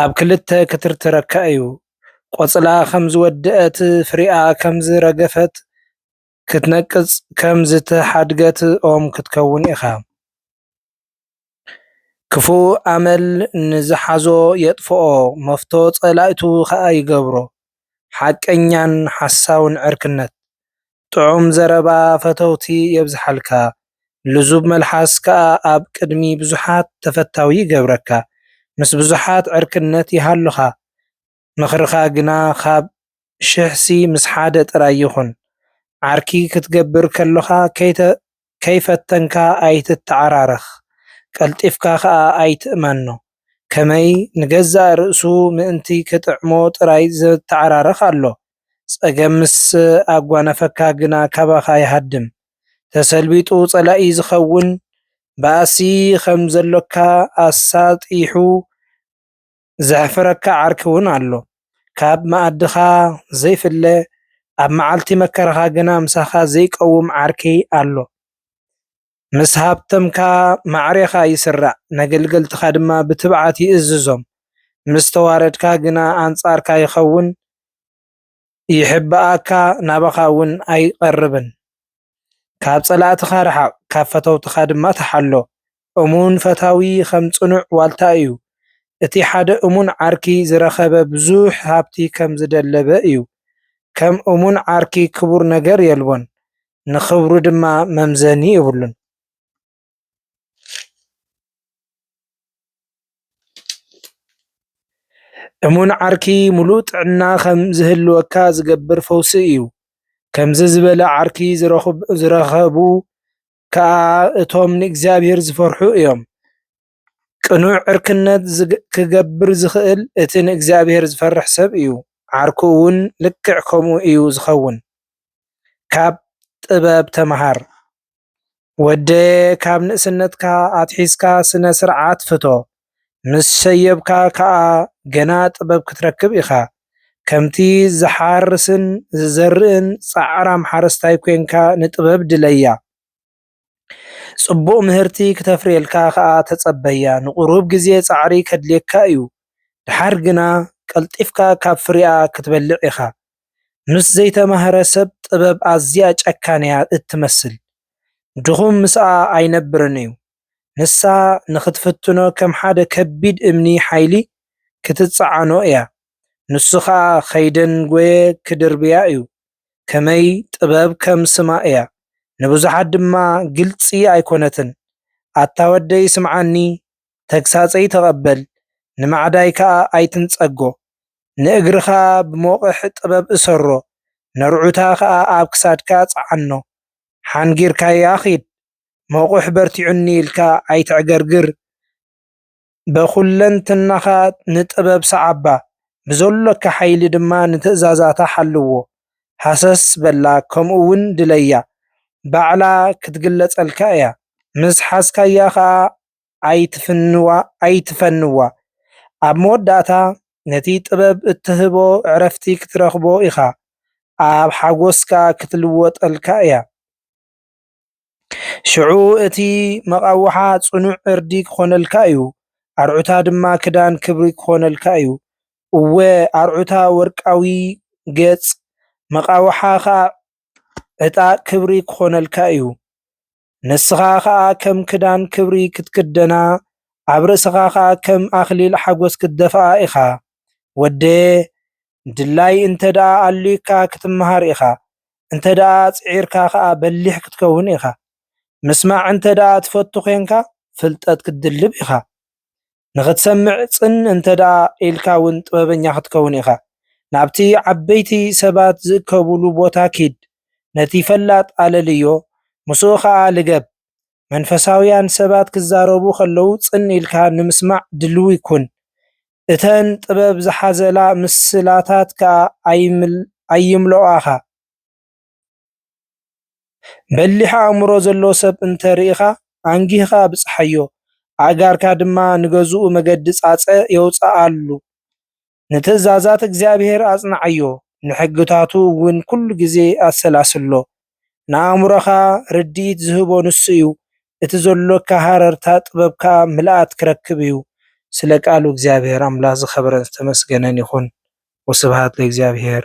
ኣብ ክልተ ክትርትረካ እዩ። ቆጽላ ከም ዝወደኣት፣ ፍሪኣ ከም ዝረገፈት፣ ክትነቅጽ ከም ዝተሓድገት ኦም ክትከውን ኢኻ። ክፉእ ኣመል ንዝሓዞ የጥፍኦ፣ መፍቶ ጸላኢቱ ኸኣ ይገብሮ። ሓቀኛን ሓሳውን ዕርክነት፣ ጥዑም ዘረባ ፈተውቲ የብዝሓልካ ልዙብ መልሓስ ከኣ ኣብ ቅድሚ ብዙሓት ተፈታዊ ይገብረካ ምስ ብዙሓት ዕርክነት ይሃሉኻ ምኽርኻ ግና ካብ ሽሕሲ ምስ ሓደ ጥራይ ይኹን ዓርኪ ክትገብር ከሎኻ ከይተ ከይፈተንካ ኣይትተዓራረኽ፣ ቀልጢፍካ ከኣ ኣይትእመኖ። ከመይ ንገዛእ ርእሱ ምእንቲ ክጥዕሞ ጥራይ ዝተዓራረኽ ኣሎ። ጸገም ምስ ኣጓነፈካ ግና ካባኻ ይሃድም። ተሰልቢጡ ጸላኢ ዝኸውን ባእሲ ከም ዘሎካ ኣሳጢሑ ዘሕፍረካ ዓርኪ ውን ኣሎ ካብ መኣድኻ ዘይፍለ ኣብ መዓልቲ መከራኻ ግና ምሳኻ ዘይቀውም ዓርኪ ኣሎ ምስ ሃብተምካ ማዕሬኻ ይስራዕ ነገልገልትኻ ድማ ብትብዓት ይእዝዞም ምስ ተዋረድካ ግና ኣንጻርካ ይኸውን ይሕባኣካ ናባኻ እውን ኣይቐርብን። ካብ ጸላእትኻ ርሓቕ፣ ካብ ፈተውትኻ ድማ ተሓሎ። እሙን ፈታዊ ኸም ጽኑዕ ዋልታ እዩ። እቲ ሓደ እሙን ዓርኪ ዝረኸበ ብዙሕ ሃብቲ ኸም ዝደለበ እዩ። ከም እሙን ዓርኪ ክቡር ነገር የልቦን፣ ንኽብሩ ድማ መምዘኒ የብሉን። እሙን ዓርኪ ሙሉእ ጥዕና ከም ዝህልወካ ዝገብር ፈውሲ እዩ። ከምዚ ዝበለ ዓርኪ ዝረኸቡ ከዓ እቶም ንእግዚኣብሔር ዝፈርሑ እዮም። ቅኑዕ ዕርክነት ክገብር ዝኽእል እቲ ንእግዚኣብሔር ዝፈርሕ ሰብ እዩ። ዓርኩ እውን ልክዕ ከምኡ እዩ ዝኸውን። ካብ ጥበብ ተምሃር። ወደየ ካብ ንእስነትካ ኣትሒዝካ ስነ ስርዓት ፍቶ ምስ ሸየብካ ከኣ ገና ጥበብ ክትረክብ ኢኻ ከምቲ ዝሓርስን ዝዘርእን ጻዕራም ሓረስታይ ኮንካ ንጥበብ ድለያ ጽቡቕ ምህርቲ ክተፍርየልካ ከኣ ተጸበያ ንቑሩብ ግዜ ጻዕሪ ከድልየካ እዩ ደሓር ግና ቀልጢፍካ ካብ ፍሪኣ ክትበልዕ ኢኻ ምስ ዘይተማህረ ሰብ ጥበብ ኣዝያ ጨካን'ያ እትመስል። ድኹም ምስኣ ኣይነብርን'ዩ። ንሳ ንኽትፍትኖ ከም ሓደ ከቢድ እምኒ ሓይሊ ክትጸዓኖ'ያ፣ ንሱ ኸኣ ከይደንጐየ ክድርብያ'ዩ። ከመይ ጥበብ ከም ስማ'ያ፣ ንብዙሓት ድማ ግልጺ ኣይኰነትን። ኣታ ወደይ ስምዓኒ፣ ተግሳጸይ ተቐበል፣ ንማዕዳይ ከኣ ኣይትንጸጎ። ንእግርኻ ብሞቕሕ ጥበብ እሰሮ፣ ነርዑታ ኸኣ ኣብ ክሳድካ ጽዓኖ። ሓንጊርካያ ኺድ፣ ሞቑሕ በርቲዑኒ ኢልካ ኣይተዕገርግር፣ በኹለንትናኻ ንጥበብ ሰዓባ፣ ብዘሎካ ሓይሊ ድማ ንትእዛዛታ ሓልዎ። ሃሰስ በላ ከምኡውን ድለያ፣ ባዕላ ኽትግለጸልካ እያ፣ ምስ ሓዝካያ ኸኣ ኣይትፍንዋ ኣይትፈንዋ ኣብ መወዳእታ ነቲ ጥበብ እትህቦ ዕረፍቲ ክትረኽቦ ኢኻ ኣብ ሓጎስ ከኣ ክትልወጠልካ እያ ሽዑ እቲ መቓውሓ ጽኑዕ ዕርዲ ክኾነልካ እዩ ኣርዑታ ድማ ክዳን ክብሪ ክኾነልካ እዩ እወ ኣርዑታ ወርቃዊ ገጽ መቓውሓ ከኣ ዕጣቕ ክብሪ ክኾነልካ እዩ ንስኻ ኸኣ ከም ክዳን ክብሪ ክትክደና፣ ኣብ ርእስኻ ኸኣ ከም ኣኽሊል ሓጐስ ክትደፍኣ ኢኻ። ወደየ፣ ድላይ እንተ ደኣ ኣልዩካ ክትመሃር ኢኻ፣ እንተ ደኣ ጽዒርካ ኸኣ በሊሕ ክትከውን ኢኻ። ምስማዕ እንተ ደኣ ትፈቱ ዄንካ፣ ፍልጠት ክትድልብ ኢኻ። ንኽትሰምዕ ጽን እንተ ደኣ ኢልካ እውን ጥበበኛ ኽትከውን ኢኻ። ናብቲ ዓበይቲ ሰባት ዚእከቡሉ ቦታ ኪድ፣ ነቲ ፈላጥ ኣለልዮ፣ ምስኡ ኸኣ ልገብ። መንፈሳውያን ሰባት ኪዛረቡ ኸለዉ ጽን ኢልካ ንምስማዕ ድልዊ ኩን። እተን ጥበብ ዝሓዘላ ምስላታት ከኣ ኣይምልኦኣኻ። በሊሕ ኣእምሮ ዘለዎ ሰብ እንተ ርኢኻ፣ ኣንጊህኻ ብጽሓዮ፣ ኣእጋርካ ድማ ንገዝኡ መገዲ ጻጸ የውጽኣሉ። ንትእዛዛት እግዚኣብሄር ኣጽንዓዮ፣ ንሕግታቱ እውን ኵሉ ግዜ ኣሰላስሎ። ንኣእምሮኻ ርድኢት ዚህቦ ንሱ እዩ፣ እቲ ዘሎካ ሃረርታ ጥበብ ከኣ ምልኣት ኪረክብ እዩ። ስለ ቃሉ እግዚኣብሄር ኣምላኽ ዝኸበረን ዝተመስገነን ይኹን። ወስብሃት ለእግዚኣብሄር።